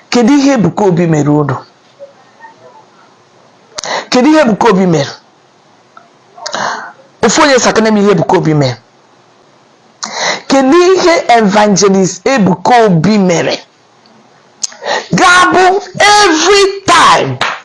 kedu ihe Ebuka Obi mere unu kedu ihe Ebuka Obi mere ofu onye sakene m ihe Ebuka Obi mere kedu ihe evangelist Ebuka Obi mere ga-abụ every time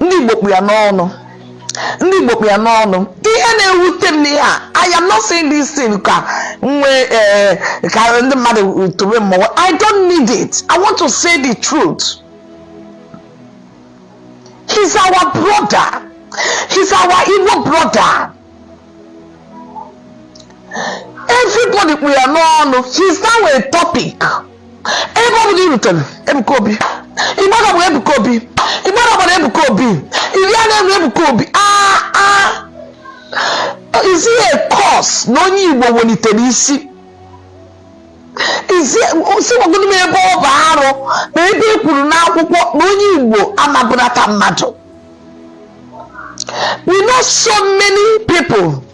ndị Igbo kpụ ya n'ọnụ ndị Igbo kpụ ya n'ọnụ ihe na-ewute m n'ihe a I am not saying this thing ka nwe eh, ka ndị mmadụ tobe mụnwa I don't need it I want to say the truth he's our brother he's our Igbo brother everybody kpụ ya n'ọnụ he's now a topic ebe ọ bụla i rutere ebuka obi ịgbara bụ ebuka obi ịgbara gbara ebuka obi iri a na-eme ebuka obi aa aa is it a curse na onye igbo welitere isi izi si gwagodu m ebe ọ bụ arụ na ebe e kwuru n'akwụkwọ na onye igbo amabụnata mmadụ we know so many people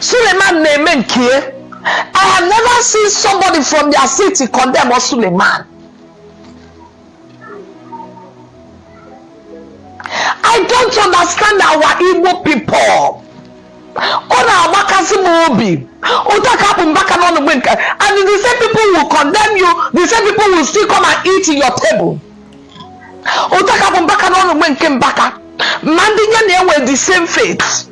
Suleiman na-eme nke ya. I have never seen somebody from their city condemn Suleiman. I don't understand our Igbo people. Ọ na-agbakasị m obi. Otu a ka a kpụ Mbaka n'ọnụ mgbe nke and the same people will condemn you, the same people will still come and eat in your table. Otu a ka a kpụ Mbaka n'ọnụ mgbe nke Mbaka. Ma ndị ya na ha nwe the same faith.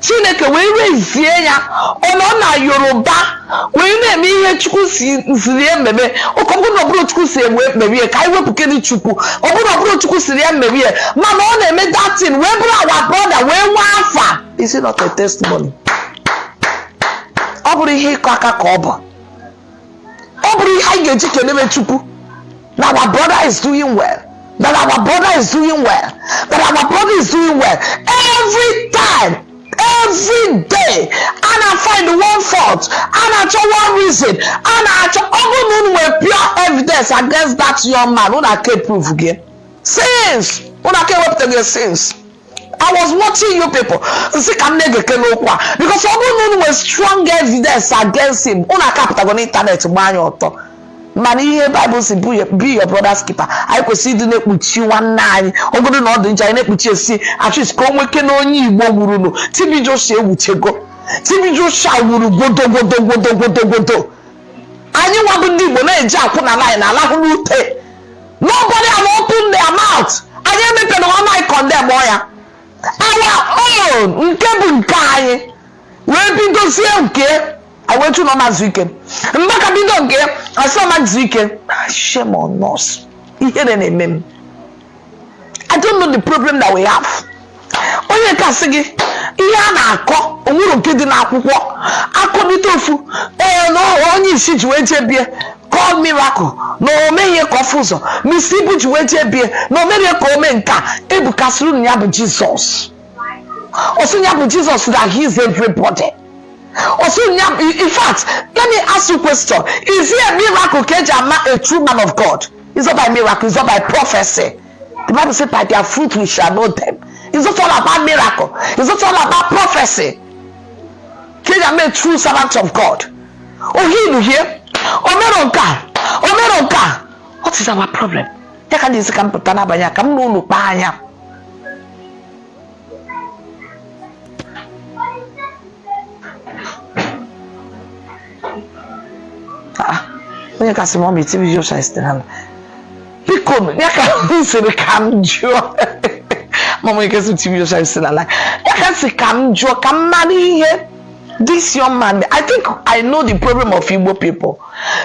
chineke wee wee zie ya ọ nọ na yoruba wee na-eme ihe chukwu si ziri ya mebe okay ọ bụrụ na ọ bụrọ chukwu si ya mebe ka anyị wepụkene chukwu ọ bụrụ na ọ bụrọ chukwu ziri ya mebe mana ọ na-eme that thing wee bụrụ our brother wee nwee afa is it not a testimony ọ bụrọ ihe ịkụ aka ka ọ bụ ọ bụrọ ihe anyị ga-eji kelebe chukwu na our brother is doing well that our brother is doing well that our brother is doing well every time every day a na-find one fault a na-achọ one reason a na-achọ ọ bụrụ na unu nwere pure evidence against that young man unu aka provego since unu aka ewepụtago since I was watching you people m sị ka m na-egeke n'okwu a because ọ bụrụ na unu nwere strong evidence against him unu akapụtago n'ịntanetị gbaa ya ọtọ mana ihe baịbụl si bụ ya- be your brother's keeper anyị kwesịrị ịdị na-ekpuchi nwanne anyị ọ bụgodu na ọ dị njọ anyị na-ekpuchi esi achis ka o nweke na onye igbo wuru nụ TB Joshua ewuchago TB Joshua wuru gwodo gwodo gwodo gwodo gwodo anyị nwa bụ ndị igbo na-eji akwụna nanyị na alahụ n'ute Nobody have opened their mouth. Anyị emepere ọnụ anyị condemnuo ya. Our own nke bụ nke anyị wee bidozie nke I went to na ọ ma ezuike. Mbaka bido nke ya sị ọ ma ezuike. Ah, Shame on us. Ihere na-eme m. I don't know the problem that we have. onye kasị gị ihe a na-akọ onwero nke dị n'akwụkwọ akọbite ofu ee na onye isi ji wee jebie call miracle na o mee ya ka ọ fụ ụzọ Mr Ibu ji wee jebie na o mee ya ka o me nka Ebuka sịrị na ya bụ Jesus ọ sị ya bụ Jesus na he is everybody ọ sị ya bụ in fact let me ask you question is it a miracle ka eji ama a true man of god is not by miracle is not by prophecy The Bible says, By their fruit we shall know them. It's not all about miracle, it's not all about prophecy. They are made true servants of God. Oh, he you hear? Omeronka, Omeronka. What is our problem? Ya ka na-esi ka m pụta n'abalị a ka m na unu kpaa anya Ah, onye kasị m ọ ma TB Joshua is still alive biko nụ, ya ka m sịrị ka m jụọ mama onye kasị m TB Joshua is still alive ya ka m sị ka m jụọ ka m mara ihe this young man i think i know the problem of igbo people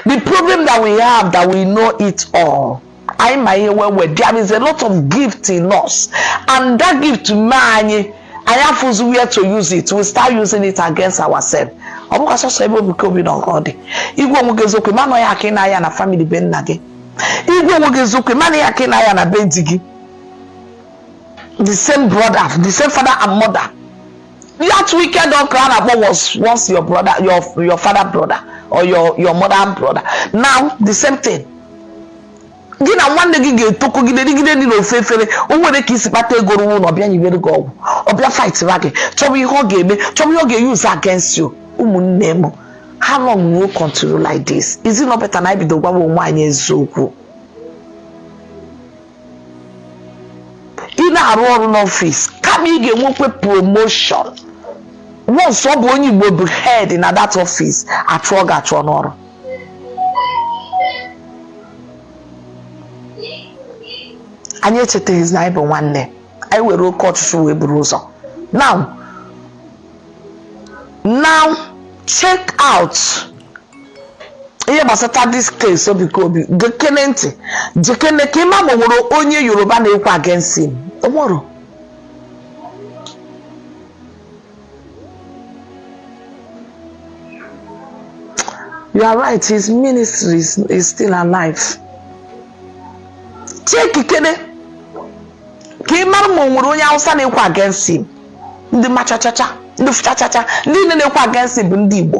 the problem that we have that we know it all anyị ma ihe well well there is a lot of gift in us and that gift mee anyị anyị afụzi where to use it we start using it against ourselves ọ bụkwa sọsọ ebe Ebuka Obi nọ gọdị ị gwa onwe gị eziokwu ịma na ya ka ị na-aya na family be nna gị ị gwa onwe gị eziokwu ịma na ya ka ị na-aya na be di gị the same brother the same father and mother that wicked uncle a na-akpọ was once your brother your your father brother or your your mother brother now the same thing gị na nwanne gị ga-etokogide rigide nri n'ofu efere o nwere ka i si kpata ego rụọ ụlọ ọ bịa nyibere gị ọgwụ ọ bịa fightịra gị chọba ihe ọ ga-eme chọba ihe ọ ga-euse against you ụmụnne m how long will you continue like this is it not better na anyị bido gwawa onwe anyị eziokwu ị na-arụ ọrụ n'ọfịs kama ị ga-enwekwa promotion once ọ bụ onye igbo bụ head na that office achụọ gị achụọ n'ọrụ anyị echetaghịzi na anyị bụ nwanne anyị were oke ọchịchọ wee buru ụzọ now now check out ihe gbasata this case Ebuka Obi gekene ntị check kene ka ị ma ma o nwere onye yoruba na-ekwu against him onwero you are right his ministry is, is still alive check kene ka ị mara ma o nwere onye hausa na-ekwu against him ndị machachacha ndị fụchachacha ndị niile na-ekwu against him bụ ndị igbo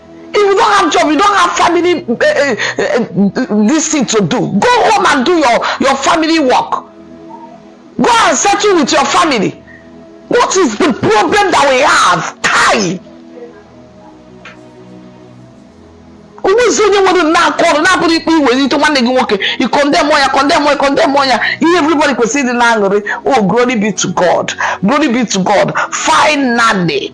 If you don't have job, you don't have family uh, uh, uh, this thing to do. Go home and do your, your family work. Go and settle with your family. What is the problem that we have? Kai! onwezi onye nwere aka ọrụ na-abụrọ ikpe iwere ite nwanne gị nwoke ị condemn ya condemn ya condemn ya ihe everybody kwesịrị ịdị n'aṅụrị oh glory be to God glory be to God finally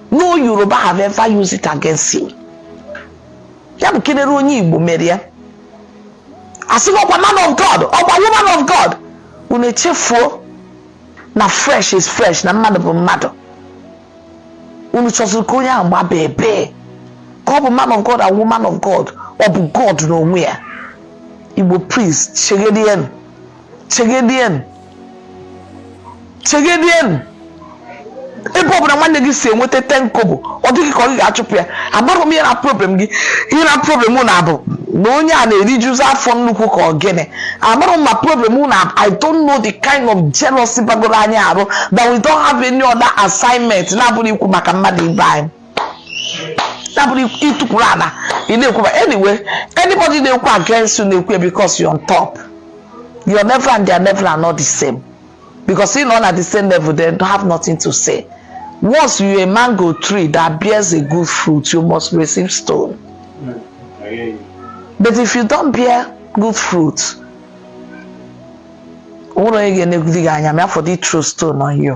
no yoruba have ever used it against him ya bụ kelere onye igbo mere ya a sị ọkwa man of god ọkwa woman of god unu echefuo na flesh is flesh na mmadụ bụ mmadụ unu chọziri ka onye ahụ gbaba ebe ka ọ bụ man of god and woman of god ọ bụ god n'onwe ya igbo please chegharịanụ chegharịanụ chegharịanụ ebe ọbụla nwanne gị si enweta ten kobo ọ dị gị ka ị ga-achụpụ ya amarọ m ihe na problem gị ihe na problem na-abụ na onye a na-erijuzi afọ nnukwu ka ọ gịnị amarọ m ma problem na i don't know the kind of jealousy bagoro anyị arụ that we don't have any other assignment na-abụrọ ikwu maka mmadụ ibe anyị na-abụrọ itukwuru ala ị na-ekwuba anyway anybody na-ekwu against you na-ekwu ya because you're on top your level and their level are not the same because ị nọ na the same level they don't have nothing to say once you're a mango tree that bears a good fruit you must receive stone but if you don't bear good fruit o nwerọ onye ga-enegide gị anya ma ọ fọdụ ị throw stone on you